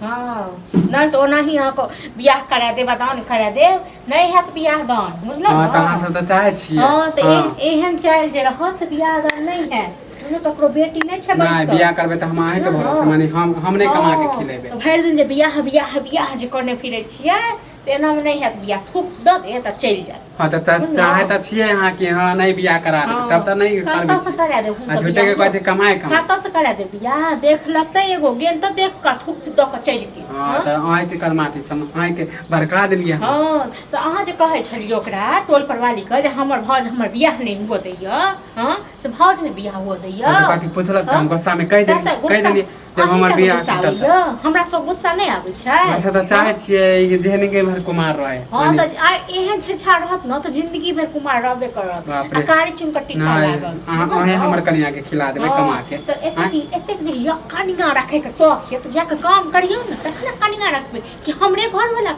हँ नहि तऽ ओनाही अहाँके बियाह करा देब आ दान करा देब नहि हैत बियाह दान बुझलहुँ हँ तऽ अहाँ सब तऽ चाहै छियै हँ तऽ हँ। ए- एहन चालि जे रहत तऽ बियाह दान नहि हैत कोनो ककरो बेटी नहि छै नहि बैसल। बियाह करबै तऽ हम अहींके हँ, भरोसे हँ। माने हम हम नहि कमा कऽ हँ, खिलेबै तऽ भरि दिन जे बियाह बियाह बियाह जे करने फिरै छियै से एना में नहीं हैत बिया थूक द दे त चल जाए हां त त- चाहे त छिए हां कि हां नहीं बियाह करा दे तब त नहीं कतऽ करबे से छी। करा दे आ झूठे के कहै छै कमाए कमाए कतऽ से करा दे बिया देख लगते एगो गेल त देख का थूक द के चल गेल हां हाँ? त आय के करमाती छम आय के भड़का देलिए हम हाँ तो अहाँ जे कहै छलियै ओकरा टोल परवाली के जे हमर भौज हमर बियाह नहीं हुआ दैया हाँ से भौज ने बियाह हुआ दैया कथी पूछलक त हम हाँ? गुस्सा में कह सएह देलिए त कह गुस्सा- देलिए जब हमर अहींटा ने बियाह गुस्सा टूटल आबैया हमरा सब गुस्सा नहि आबै छै वैसे से तऽ चाहै छियै कि जेहने के भर कुमार रहै हँ यानी- तऽ आ एहन छेछा रहत ने तऽ जिंदगी भरि कुमार रहबे करत बाप आ रे। कारी चुन कऽ टिका नहि लागल अहाँ अहें हमर कनिया के खिला देबै हँ, कमा के तऽ एतेक आँय? एतेक जे यऽ कनिया रखैके शौक यऽ तऽ जाकऽ काम करियौ ने तखन कनिया रखबै कि हमरे घरवला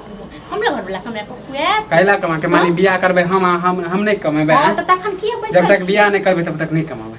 हमरे घरवला कमाए कऽ खुआएत कैला कमा के माने बियाह करबै हम आ हम हम नहि कमेबै हँ, आँय? तऽ तखन किए बैसल जब तक छी? बियाह नहि करबै तब तक नहि कमाबै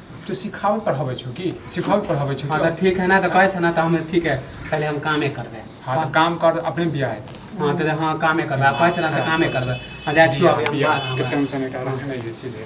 तू सिखावल पढ़ाबै छौ की सिखावल पढ़ाबै छौ हाँ तो ठीक है ना तो कहै छै ना तो हम ठीक है पहले हम कामे करबै हाँ तो काम कर अपने बियाह है हाँ तो हाँ कामे करबै आ कहै छै ना तो कामे करबै हाँ जा छियो अभी हम बात करबै। टेंशन है कारण है इसीलिए